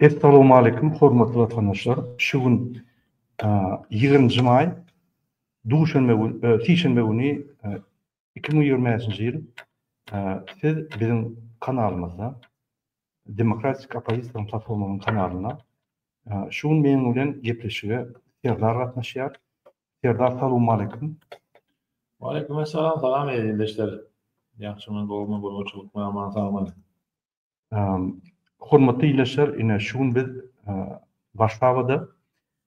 Essalowmaleýkim hormatly watandaşlar şu gün ýigrimi maý duşenbe gün sişenbe güni iki müň ýigrimi bäşinji ýyl siz biziň kanalymyzda demokratik oppozisiýanyň platformanyň kanalynda şu gün meniň bilen gepleşige serdar gatnaşýar serdar salowmaleýkim Waleýkim essalam salam eziz ildeşler ýagşymy gowumy gurbançylykmy aman sagmy. Hormatly ildeşler, ine şu gün biz Warşawada,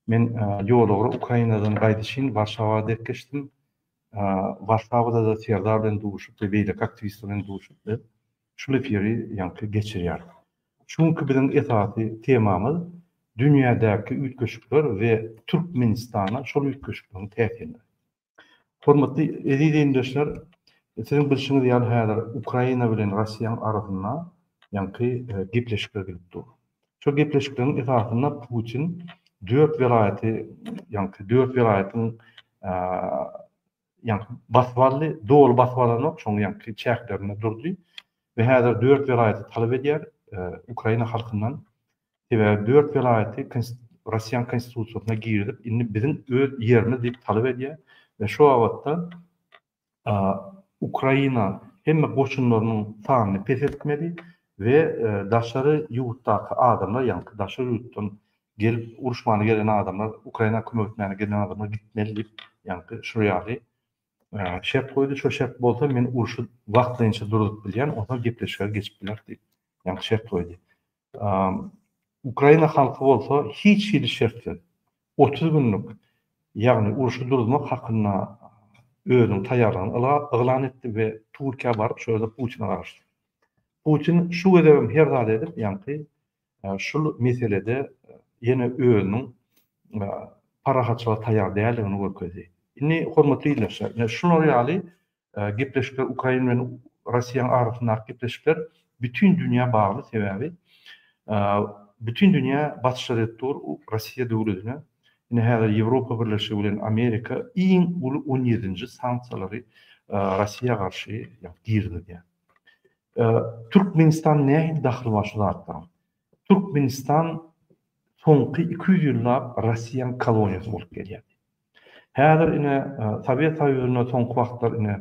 men ýolugra Ukrainadan gaýdyşyn Warşawa dek geçdim. Warşawada-da Serdar bilen duşup we beýleki aktiwistler bilen duşup biz şul efiri ýaňky geçirýäris. Şu günki biziň esasy temamyz dünýädäki üýtgeşikler we Türkmenistana şol üýtgeşikligiň täsirleri. Hormatly eziz deňdeşler, siziň bilşiňiz ýaly häzir Ukraina bilen Russiýanyň arasynda ýaňky gepleşikler gidip dur. Şol gepleşikleriň esasynda Putin dört welaýaty, ýaňky dört welaýatyň ýaňky basyp aldy, doly basyp alanok, şoň ýaňky çäklerinde durdy we häzir dört welaýaty talap edýär Ukraina halkyndan Sebäbi dört welaýaty Russiýanyň konstitusiýasyna girizip, indi biziň öz ýerimiz diýip talap edýär we şu babatda Ukraina hemme goşunlarynyň sanyny peseltmeli we daşary ýurtdaky adamlar, ýagny daşary ýurtdan gelip uruşmana gelen adamlar, Ukraina kömek etmäne gelen adamlar gitmeli diýip, ýagny şu ýaly şert goýdy. Şo şert bolsa men urşy wagtlaýynça duruzyp bilýän, onsoň gepleşige geçip bileris diýip, ýagny şert goýdy. Ukraina halky bolsa hiç hili şertsiz otuz günlük, ýagny urşy duruzmak hakynda özüniň taýýarlygyny yglan etdi we Türkiýä baryp şol ýerde Putine garaşdy. Putin şu gezegem her zady edip, ýaňky şul meselede ýene özüniň parahatçylyga taýýar däldigini görkezdi. Indi hormatly ildeşler, ine şular ýaly Gepleşikler Ukraina bilen Russiýanyň arasyndaky gepleşikler bütin dünýä bagly sebäbi bütin dünýä basyş edip dur Russiýa döwletine ine häzir Ýewropa birleşigi bilen Amerika iň uly on ýedinji sanksiýalary Russiýa garşy girizýär. Türkmenistan nähili dahyly bar şu zatlaryň? Türkmenistan soňky iki ýüz ýyllap Russiýanyň koloniýasy bolup gelýär. Häzir ine Sowet Soýuzynda soňky wagtlar ine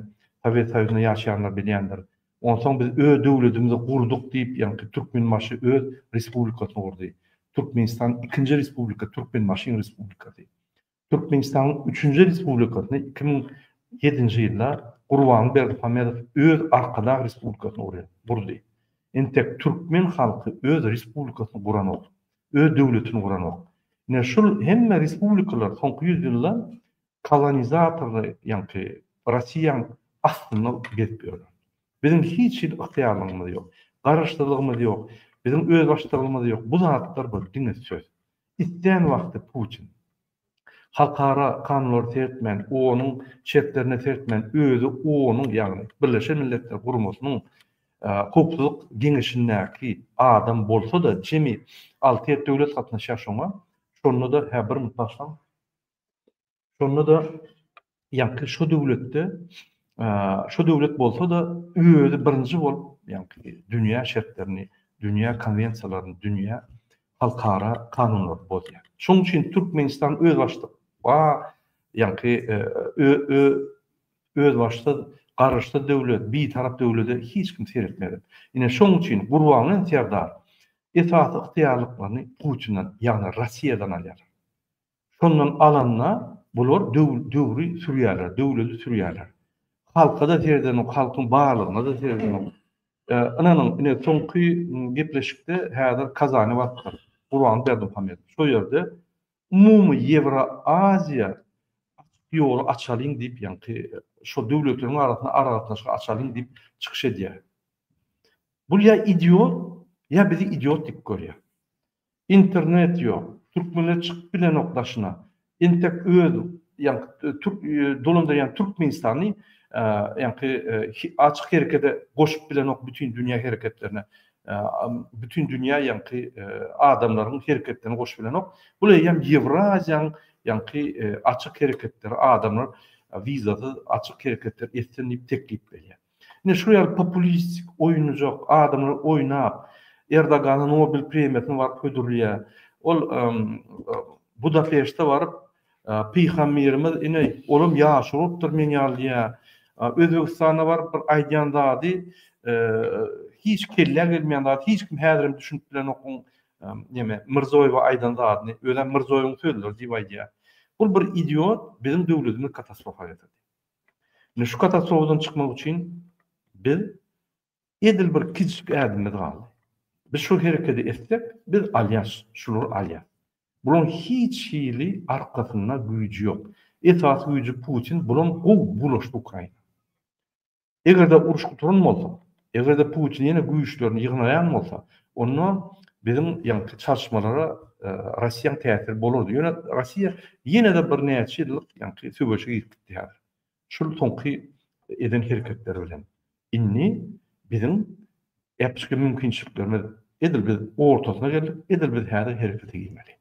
Sowet Soýuzynda ýaşaýanlar bilýändir. Onsoň biz öz döwledimizi gurduk diýip ýaňky Türkmenbaşy öz respublikasyny gurdy. Türkmenistan ikinji respublika Türkmenbaşyň respublikasy. Türkmenistanyň üçünji respublikasyny iki müň ýedinji ýylda Gurbanguly Berdimuhamedow öz arkadag respublikasyny gurýar gurdy. Entek türkmen halky öz respublikasyny guranok. öz döwletini guranok. Ine, şul hemme respublikalar soňky ýüz ýylda kolonizatorly ýaňky Rossiýaň astynda gezip ýörler. Biziň hiç hili ygtyýarlygymyz ýok. Garaşsyzlygymyz ýok. Biziň özbaşdalygymyz ýok. Bu zatlar bir diňe söz. Islän wagty Putin. Halkara kanunlary seretmän, OON-yň şertlerine seretmän özi OON-yň, ýagny Birleşen Milletler Guramasynyň Howpsuzlyk Geňeşindäki adam bolsa-da, jemi alty ýedi döwlet gatnaşýar şoňa, şonda-da, hä, bir mut başlaň, şonda-da Ýaňky şo döwletde, şo döwlet bolsa-da özi birinji bolup, ýaňky dünýä şertlerini, dünýä konwensiýalaryny, dünýä halkara kanunlaryny bozýar. Şonuň üçin Türkmenistan özbaşdak, ba, ýaňky özbaşsyz, garaşsyz döwlet, bitarap döwlede hiç kim seretmedi. Ine, şonuň üçin Gurbanguly Serdar esasy ygtyýarlyklaryny Putinden, ýagny Russiýadan alýar. Şondan alanda bular döwri sürýärler, döwleti sürýärler. Halka-da seredenok, halkyň barlygyna-da seredenok. Ynanyň, ine, soňky gepleşikde häzir Kazany basypdyr, Gurban Berdimuhamedow. Şo ýerde umumy Ýewroaziýa ýoly açalyň diýip, ýaňky şo döwletleriň arasynda aragatnaşygy açalyň diýip çykyş edýär. Bul ýa idiot, ýa bizi idiot diýip görýär. Internet ýok. Türkmenler çykyp bilenok daşyna. Entek öz ýaňky türk dolandyr ýan Türkmenistany ýaňky açyk herekede goşup bilenok bütin dünýä hereketlerine. Bütin dünýä ýaňky adamlaryň hereketlerine goşup bilenok. Bul eýýäm Ýewraziýanyň ýaňky açyk hereketleri adamlar wizasyz açyk hereketler etsin diýip teklip berýär. Ine şu ýaly populistik, oýunjak adamlar oýnap, Erdogana Nobel premiýasyny baryp hödürleýär. Ol Budapeşte baryp, Pygamberimiz ine olam ýaşuly bolupdyr meň ýaly diýýär. Özbegistana baryp bir aýdýan zady hiç kellä gelmeýän zat, hiç kim häzirem düşünip bilenok oň neme Mirzoýewe aýdan zadyny, özem Mirzoýewiň sözleri diýip aýdýar. Bul bir idiot biziň döwletimizi katastrofa getirdi. Indi şu katastrofadan çykmak üçin biz edil bir kiçijik ädimimiz galdy. Biz şu herekedi etsek, biz alýas, şulary alýas. Bularyň hiç hili arkasynda güýji ýok. Esasy güýji Putin, bulam gowy bulaşdy Ukraina. Eger-de uruş gutaran bolsa, Eger-de Putin ýene güýçlerini ýygnaýan bolsa, onda biziň ýaňky çalyşmalara Russiýanyň täsiri bolardy. Ýöne Russiýa ýene-de birnäçe ýyllyk ýaňky söweşe girip gitdi häzir. Şul soňky eden hereketleri bilen. Indi biziň äpişgin mümkinçiliklerimiz edil biz ortasyna geldik, edil biz häzir herekete girmeli.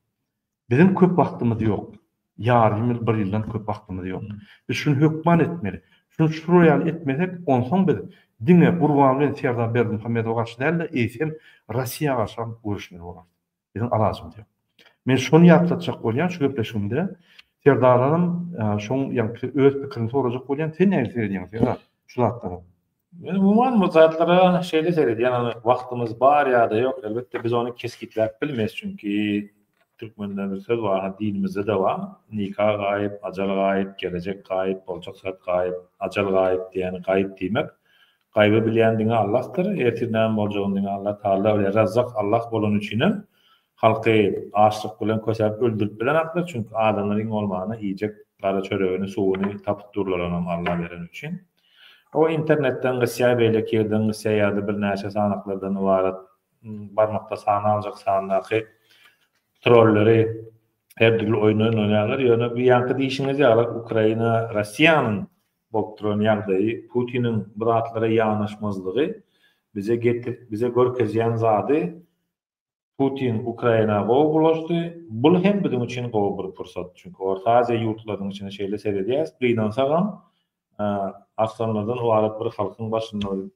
Biziň köp wagtymyz ýok. Ýarym ýyl, bir ýyldan köp wagtymyz ýok. Biz şuny hökman etmeli. Şuny şular ýaly etmesek, onsoň biz diňe Gurban bilen Serdar Berdimuhamedowa garşy däl-de, eýsem, Russiýa garşam göreşmeli bolarys. Biziň alajymyz ýok. Men şony ýatlatjak bolýan şu gepleşigimde, Serdardanam şoň ýaňky öz pikirini sorajak bolýan, sen nähili seredýäň, Serdar, şu zatlara? Men umuman bu zatlara şeýle seredýän, ony wagtymyz bar ýa-da ýok, elbetde biz ony kesgitläp bilmeýs, çünki türkmende bir söz bar, ha dinimizde-de bar, Nika gaýyp, ajal gaýyp, gelejek gaýyp, boljak zat gaýyp, ajal gaýyp diýýän, gaýyp diýmek, gaýby bilýän diňe Allahdyr, ertir näme boljagyny diňe Allah Taala bilýär, Razzak Allah bolany üçinem Halky açlyk bilen kösäp öldürip bilenaklar çünki adamlar iň bolmanda iýjek gara çöregini suwuny tapyp durlaranam Alla beren üçin. O internetden gysýa beýleki ýerden gysýa ýada birnäçe sanaklardan ybarat barmakda sana aljak sandaky trolleri her dürli oýun oýnarýarlar ýöne bu ýanky diýişiňiz ýaly Ukraina Rossiýanyň bolup duran ýagdaýy Putiniň bu zatlara ýanaşmazlygy bize getir bize görkezýän zady Putin Ukraina gowy bulaşdy, bul hem biziň üçin gowy bir pursat. Çünki Orta Aziýa ýurtlarynyň içine şeýle seredýäs, gynansagam, arslanlardan ybarat bir halkyň başynda bir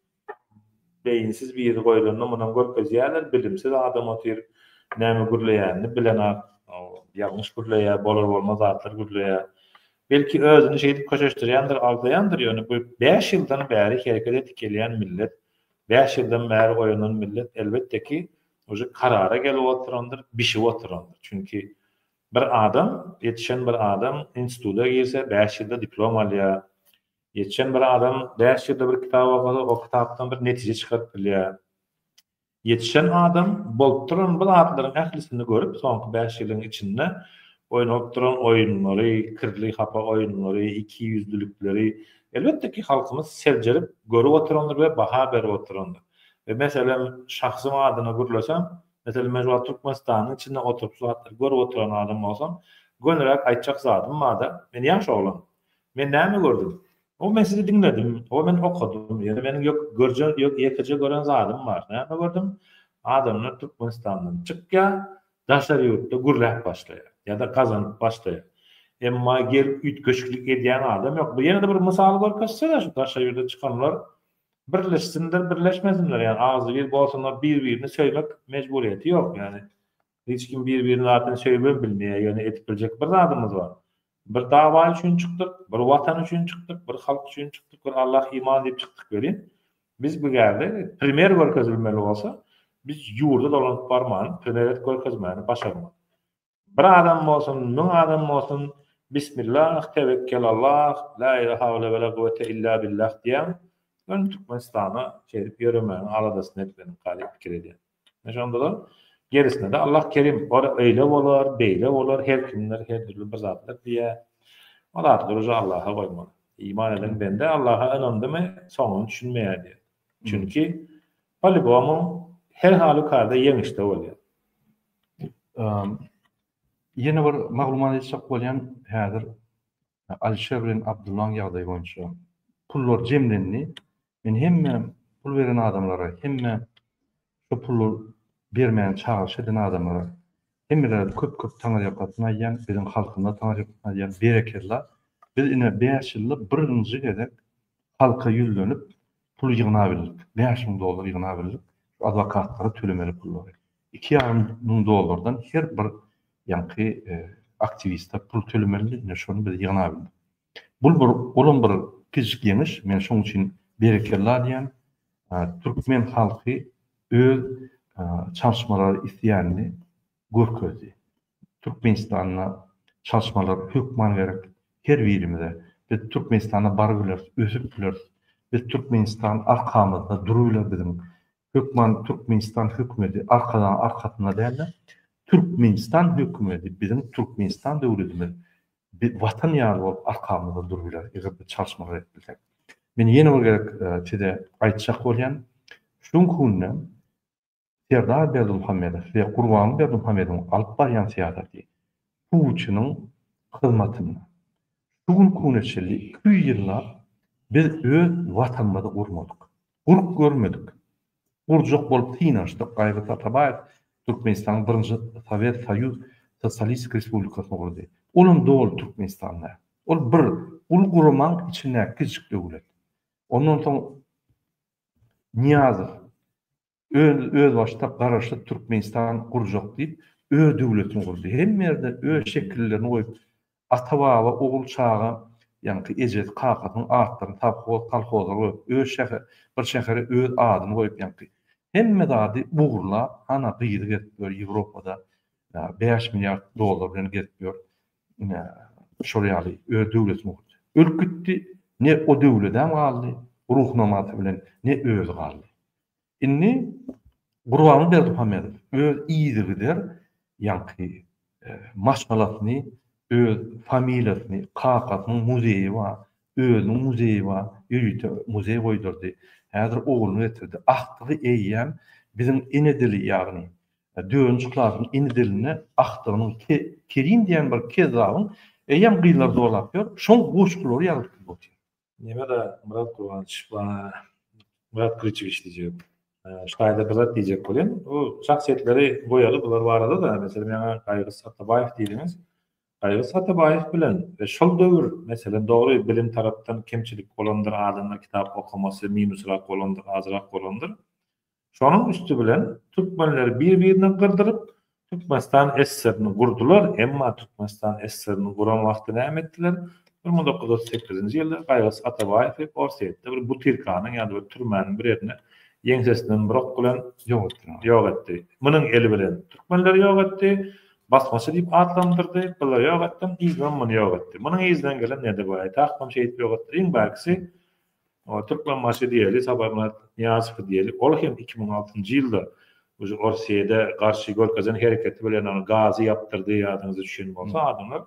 beýinsiz biri goýlanda munam görkezýärler, bilimsiz adam otyr, näme gürleýänini bilenak, ýalňyş gürleýär, bolar-bolmaz zatlar gürleýär. Belki özüni şeýdip köşeşdirýändir, aldaýandyr, ýöne bu bäş ýyldan bäri hereket edip gelýän millet Bäş ýyldan bäri oýanan millet elbetde ki uje karara gelip oturandyr, bişip oturandyr. Çünki bir adam, ýetişen bir adam instituda girse bäş ýylda diplom alýar. Ýetişen bir adam bäş ýylda bir kitap okasa o kitapdan bir netije çykaryp bilýär. Ýetişen adam bolup duran bu zatlaryň ählisini görüp soňky bäş ýylyň içinde oýnap duran oýunlary, kirli hapa oýunlary, ikiýüzlülikleri Elbetde ki halkymyz seljerip görüp oturandyr we baha berip oturandyr. We meselem şahsym adyna gürleseň, meselem men şu wagt Türkmenistanyň içinde oturyp şu zatlary görüp oturan adam bolsam, gönüräk aýtjak zadym barda, men ýaş oglan. Men näme gördüm? Oba men sizi diňledim, oba men okadym, ýöne meniň ýok görjen ýok ýekeje gören zadym bar. Näme gördüm? Adamlar Türkmenistandan çykýar, Daşary ýurtda gürläp başlaýar. Ýa-da gazanyp başlaýar. Emma gelip üýtgeşiklik edýän adam ýok. Bu ýene-de bir mysal görkezse-de şu daşary ýurda çykanlar birleşsinler, birleşmesinler. Ýagny agzybir bolsunlar, bir-birini söýmek mejburyýeti ýok. Ýagny hiç kim bir-birini zaten söýübem bilmeýär. Ýöne edip biljek bir zadymyz bar. Bir dawa üçin çykdyk, bir watan üçin çykdyk, bir halk üçin çykdyk, bir Allah, iman diýip çykdyk welin, Biz bu ýerde primer görkezilmeli bolsa, biz ýurda dolanyp barman, primerit görkezmäni başarmaly. Bir adam bolsun, müň adam bolsun, Bismillah, tewekkelallah, la ile hawle we la guwete illa billah diýäň, öň Türkmenistana şeýdip ýöremäniň aladasyny etmeliň kazyp pikir edýän. Şondalar gerisine-de Allah kerim, ol öýle bolar, beýle bolar, her kimler her dürli bir zatlar diýýär. O zatlar uje Allaha goýmaly. Iman eden bende Allaha ynandymy, soňuny düşünmeýär diýýär. Çünki polýubomu her halükarda ýeňişde bolýar. Ýene bir maglumat eşitjek bolýan, häzir Alişer bilen Abdullaň ýagdaýy boýunça pullar jemlendi. Men hemme pul beren adamlara, hemme şo puly bermäni çagyryş eden adamlara hemmelere köp-köp taňyrýakasyny aýdýan, biziň halkymyza taňyrýakasyny aýdýan, berekella, biz ine bäş ýylda birinji gezek halka ýüzlenip pul ýygnabildik, bäş müň dollar ýygnabildik, şu adwokatlara tölemeli pullary. Iki ýarym müň dollardan her bir ýaňky aktiwista pul tölemelidi, ine şony biz ýygnabildik. Bul bir olam bir kiçijik ýeňiş, men şoň üçin berekella diýýän. Türkmen halky öz çalşmalary isleýänini görkezdi. Türkmenistanda çalşmalar hökman gerek her birimize. Biz Türkmenistanda barybileris, ösüp bileris. Biz Türkmenistan arkamyzda durubiler biziň. Hökman Türkmenistan hökümeti Arkadagyň arkasynda dälde. Türkmenistan hökümeti biziň Türkmenistan döwletimiz bir watan ýaly bolup arkamyzda durup biler eger biz çalyşmalar edip bilsek. Men ýene bir gezek size aýtjak bolýan şu günki günde Serdar Berdimuhamedow we Gurbanguly Berdimuhamedowyň alyp barýan syýasaty Putiniň hyzmatynda. Şu günki güne çenli iki ýüz ýyllap biz öz watanymyzy gurmadyk. Gurk görmedik. Gurjak bolup synanyşdyk, Gaýgy Tatabaýew Türkmenistanyň birinji Sowet Soýuz Sosialistik Respublikasyny gurdy. Olam doly Türkmenistan däl. Ol bir uly guramaň içindäki kiçijik döwlet. Ondan soň Nyýazow öz özbaşdak Garaşsyz Türkmenistan gurjak diýip, öz döwletini gurdy. Hemme ýerde öz şekillerini goýup, Ata-baba, ogul-çaga, ýaňky ejesi, kakasynyň atlaryny sowhoz, kolhozlara goýup, öz şähe, bir şähere öz adyny goýup, ýaňky hemme zady ogurlap, ana, gyzy gezip ýör, Ýewropada bäş milliard dollar bilen gezip ýör, ine, şol ýaly öz döwletini gurdy. Ölüp gitdi, ne o döwledem galdy, ruhnamasy bilen, ne özi galdy. Indi Gurbany Berdimuhamedow öz yzygider ýaňky maşgalasyny, öz familiýasyny, kakasynyň muzeýi bar, özüniň muzeýi bar, ýörite muzeý goýdurdy. Häzir ogluny getirdi. Agtygy eýýäm biziň ene dili ýagny dördünji klasyň ene dilini agtygynyň Kerim diýen bir kezzabyň eýýäm gyzlar zorlap ýör, şoň goşgulary ýazyp otyr. Neme da Murat Kurbanç bana Murat Kılıçeviç diyecek. Şaýda ee, Murat diyecek bolýan. O şahsiýetleri goýaly bular barada da mesela maňa Gaýgy Satabaýew diýdiňiz. Gaýgy Satabaýew bilen we şol döwür meselem dogry bilim tarapdan kemçilik bolandyr adamlar kitap okamasy minusrak bolandyr azrak bolandyr. Şonuň üsti bilen türkmenleri bir-birine gyrdyryp, Türkmenistan SSR-ni gurdular, emma Türkmenistan SSR-ni guran wagty näme etdiler? Bir müň dokuz ýüz otuz sekizinji ýylda Gaýgys Atabaýewi Orsýetde bir butyrkanyň ýa-da bir türmäniň bir ýerine ýeňsesinden bir ok bilen ýok etdiler, ýok etdi. Munyň eli bilen türkmenleri ýok etdi, basmaçy diýip atlandyrdy, bulary ýok etdim, yzymam muny ýok etdi. Munyň yzyndan gelen Nedebaýewi, Tahmam şeýdip ýok etdiler. Iň bärkisi O Türkmenbaşy diýeli, Sabyrmyrat Nyýazowy diýeli, ol hem iki müň altynjy ýylda uje Orsýede garşy görkezen hereketi bilen ony gazy ýapdyrdy, ýadyňyza düşen bolsa adamlar.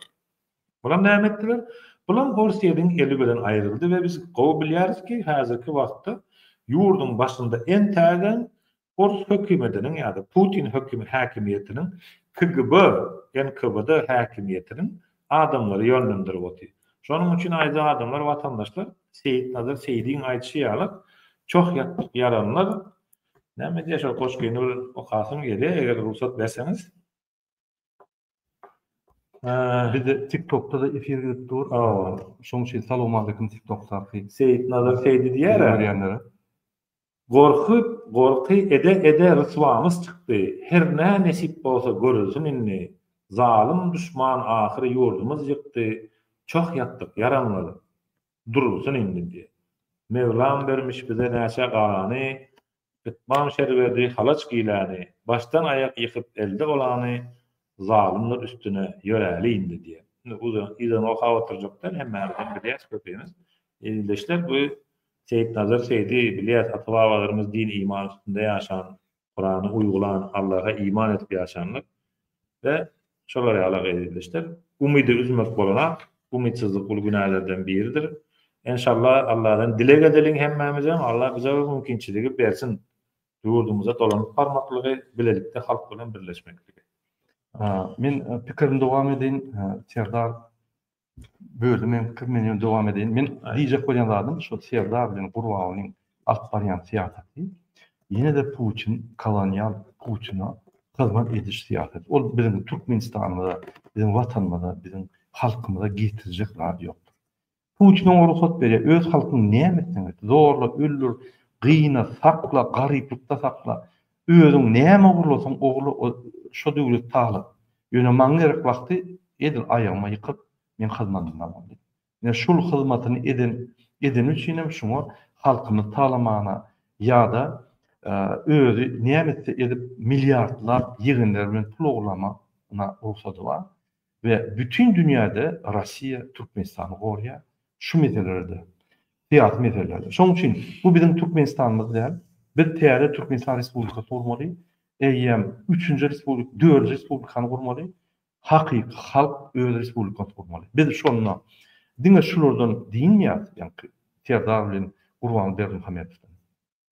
Bulam näme etdiler? Bulam Orsýediň eli bilen aýryldy we biz gowy bilýäris ki, häzirki wagtda ýurduň başynda entägem ors hökümetiniň ýa-da Putin höküm häkimiýetiniň KGB, NKVD häkimiýetiniň adamlary ýönlendirip otyr. Şonuň üçin aýdýan adamlar watandaşlar Seýitnazar Seýdiň aýdyşy ýaly çoh ýatdyk ýalanlar näme diýýär şol goşgyny bir okasaň ýeri eger rugsat berseňiz. Bizde TikTokda-da efir gidip dur. Şoň üçin salowmaleýkim TikTokdaky. Seýitnazar Seýdi diýýär-ä. Görýänlere. Gorky, gorky ede-ede ryswamyz çykdy. Hernä nesip bolsa görülsin indi. Zalym duşman ahyry ýurdumyz ýykdy. Çoh ýatdyk ýaranlar durulsyn indi diýýär. Mevlam bermiş bize näçe garany, Ytmaň şerwedi halaç giýläni, başdan aýak ýykyp elde olany zalymdyr üstüne ýöräli indi diýýär. Indi uzyn yzyna okap oturjak däl hemmämiz hem bilýäs köpimiz. Ildeşler bu Seýitnazar Seýdi bilýäs ata babalarymyz din iman üstünde ýaşan Kurany uýgulan Allaha iman edip ýaşanlar we Şolar ýaly gyzyldeşler. Umydy üzmek bolanok. Umytsyzlyk uly günälerden biridir. Enşalla Alladan dileg edeliň hemmämizem Allah bize bu mümkinçiligi bersin. Ýurdumyza dolanyp barmaklygy, bilelikde halk bilen birleşmekligi. Men pikirimi dowam edin Serdar Böldüm men pikir men ýöne dowam edeýin. Men diýjek bolýan zadym şu Serdar bilen Gurbagulyň alyp barýan syýasaty ýene-de Putin kolonial Putina hyzmat ediş syýasaty. Ol biziň Türkmenistanymyza, biziň watanymyza, biziň halkymyza getirjek zat ýokdur. Putin oňa rugsat berýär. Öz halkyňy näme etseň et, zorla öldür, gyna, sakla, garyplykda sakla. Özüň näme ogurlasaň ogurla o şo döwlet talyp. Ýöne maň gerek wagty edil aýagyma ýykyp meň hyzmadymda boldy. Ine şul hyzmatyny eden edeni üçinem şuňa halkymyz talamana ýada özi näme etse edip milliardlap ýegenleri bilen pul ogurlama na rugsady bar. we bütin dünýäde Rossiýa Türkmenistany gorýar şu meselelerde, syýasy meselelerde. Şonuň üçin bu biziň Türkmenistanymyz däl. Biz täze Türkmenistan Respublikasy gurmaly, eýýäm üçünji respublik, dördünji respublikany gurmaly, hakyky halk öz respublikasyny gurmaly. Biz şonda diňe şulardan dynmaýarys, ýaňky Serdar bilen Gurbanguly Berdimuhamedowdan.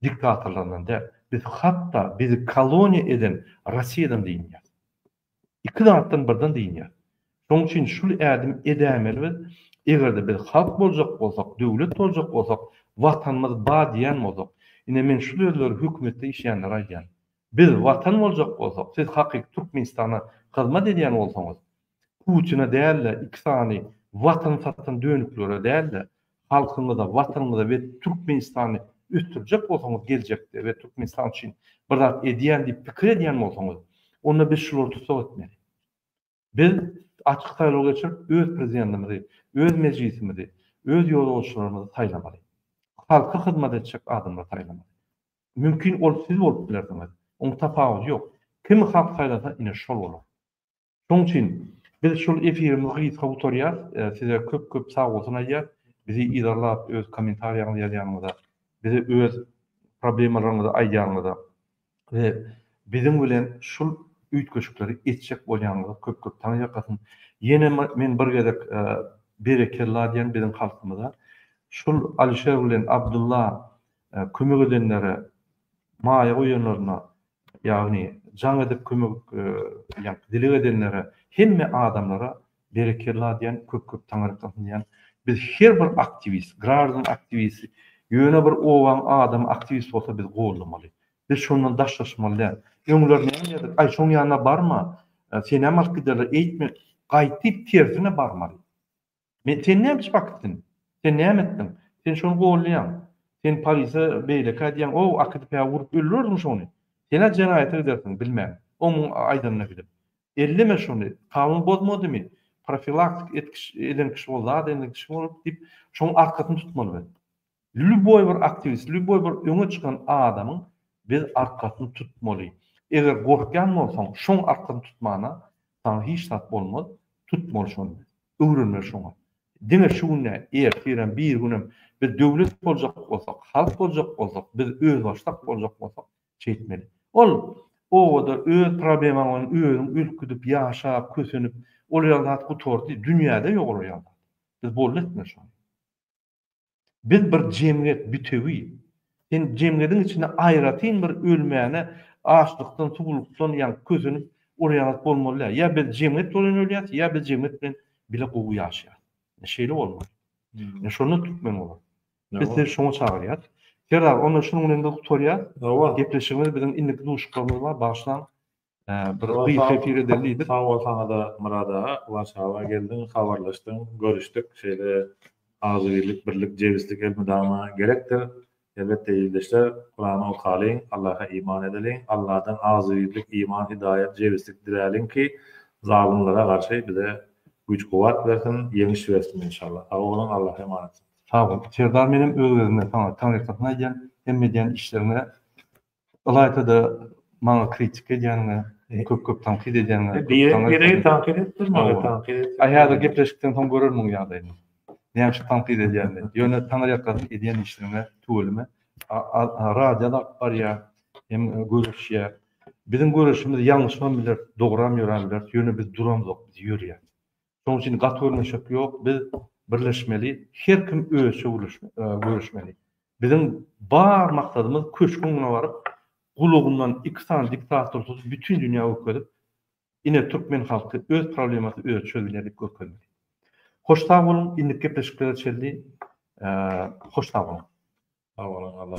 diktatorlaryndan däl. Biz hatda bizi koloniýa eden Rossiýadan dynýas. Iki zatdan birden dynýas. Şoň üçin şul ädim edäýmeli biz. Eger-de biz halk boljak bolsak, döwlet boljak bolsak, Watanymyz ba diýýän bolsak. Ine men şu sözleri hökümetde işleýänlere aýdýan. Biz Watan boljak bolsak, siz hakyky Türkmenistana hyzmat edýän bolsaňyz, Putine däl-de, iki sany Watan satan dönüklere däl-de, halkyňyza, Watanyňyza we Türkmenistany ösdürjek bolsaňyz geljekde we Türkmenistan üçin bir zat edýän diýip pikir edýän bolsaňyz, onda biz şulary tussag etmeli. Biz açyk saýlaw geçirip, öz prezidentimizi, öz mejlisimizi, öz ýolbaşçylarymyzy saýlamaly. Halka hyzmat etjek adamlary saýlamaly. Mümkin ol siz bolup bilersiňiz. Oň tapawudy ýok. Kimi halk saýlasa ine şol bolar. Şoň üçin biz şol efirimizi gysga gutarýas. Size köp köp sagbolsun aýdýas. Bizi yzarlap öz kommentariýaňyzy ýazýanyňyza, bize öz problemalaryňyzy aýdýanyňyza we biziň bilen şul üýtgeşikleri etjek bolýanyňyza köp köp taň ýakasyn. Ýene men bir gezek berekella diýen biziň halkymyza. Şul Alişer bilen Abdylla kömek edenlere maýa goýanlaryna ýagny jaň edip kömek dileg edenlere hemme adamlara Berekella diýän köp köp taňyrkasyn diýän biz her bir aktiwist graždan aktiwisti ýöne bir obaň adamy aktiwist bolsa biz gollamaly biz şondan daşlaşmaly däl öňler näme diýerdik aý şoň ýanyna barma senem alyp giderler eýtme gaýtyp tersine barmaly men sen näme iş bakipsiň sen näme etdiň sen şony gollaýaň sen polise beýlekä diýäň o akydyp ä urup öldürerdiň şony senä jenaýata gidersiň bilmän oň muň aýdanyna gidip Elleme şony, kanun bozmadymy, profilaktik etkiş eden kişi bol, zat eden kişi bolup diýip, şoň arkasyny tutmaly biz. Lýuboý bir aktiwist, lýuboý bir öňe çykan adamyň biz arkasyny tutmaly. Eger gorkýan bolsaň, şoň arkasyny tutmana saňa hiç zat bolmaz, tutmaly şony. Öwrenmeli şoňa. Diňe şu gün däl, ertirem, birigünem biz döwlet boljak bolsak, halk boljak bolsak, biz özbaşdak boljak bolsak, Çekmeli. Ol obada öz problemaň bilen özüň ülküdip, ýaşap, kösenip, ol ýaly zat gutardy, dünýäde ýok ol ýaly zat. Biz boldy etmeli şony. Biz bir jemgyýet, bütewi. Sen jemgyýetiň içinde aýratyn bir ölmäne açlykdan, suwlukdan ýaňky kösenip, ol ýaly zat bolmaly däl. Ýa biz jemgyýet bolan ölýäs, ýa biz jemgyýet bilen bile gowy ýaşaýas. Şeýle bolmaly. Şonda türkmen bolar. Biz sizi şoňa çagyrýas. Serdar, onda şunuň bilen biz gutarýas. Hawa. Gepleşigimiz biziň indiki duşuşyklarymyz bar, bagyşlaň. Bir gysga efir edeli diýdik. Sag bol saňa-da Myrat aga. Warşawa geldiň, habarlaşdyň, görüşdik. Şeýle agzybirlik, birlik, jebislik elmydama gerekdir. Elbetde ildeşler, Kurany okalyň, Allaha iman edeliň, Alladan agzybirlik, iman, hidaýat, jebislik diläliň ki, zalymlara garşy bize güýç-kuwwat bersin, ýeňiş bersin inşallah. Sag boluň, Allaha emanetdiriň. Sag bol Serdar menem öz gezimden saňa taňyrýakasyn aýdýan hemme edýän işleriňe ylaýtada maňa kritika edýäniňe köp köp tankyt edýäniňe Birek tankyt etdir maňa tankyt et. Aý häzir gepleşikden soň görer muň ýagdaýyny näme üçin tankyt edýänini ýöne taňyrýakasyn edýän işleriňe tüweleme radio da alyp barýa hem göreşýä biziň göreşimiz ýalňyşam biler dogram ýöräm biler ýöne biz duramzok biz ýörýäs Şonuň üçin gaty gürleşek ýok, biz birleşmeli, her kim özçe gürleşmeli. Biziň bar maksadymyz köşgüň öňüne baryp, gulagyndan iki sany diktator tutup, bütin dünýä görkezip, ine türkmen halky öz problemasyny özi çözülýär diýip görkezmeli. Hoş sag boluň, indiki gepleşiklere çenli hoş sag boluň. Sag boluň, Allah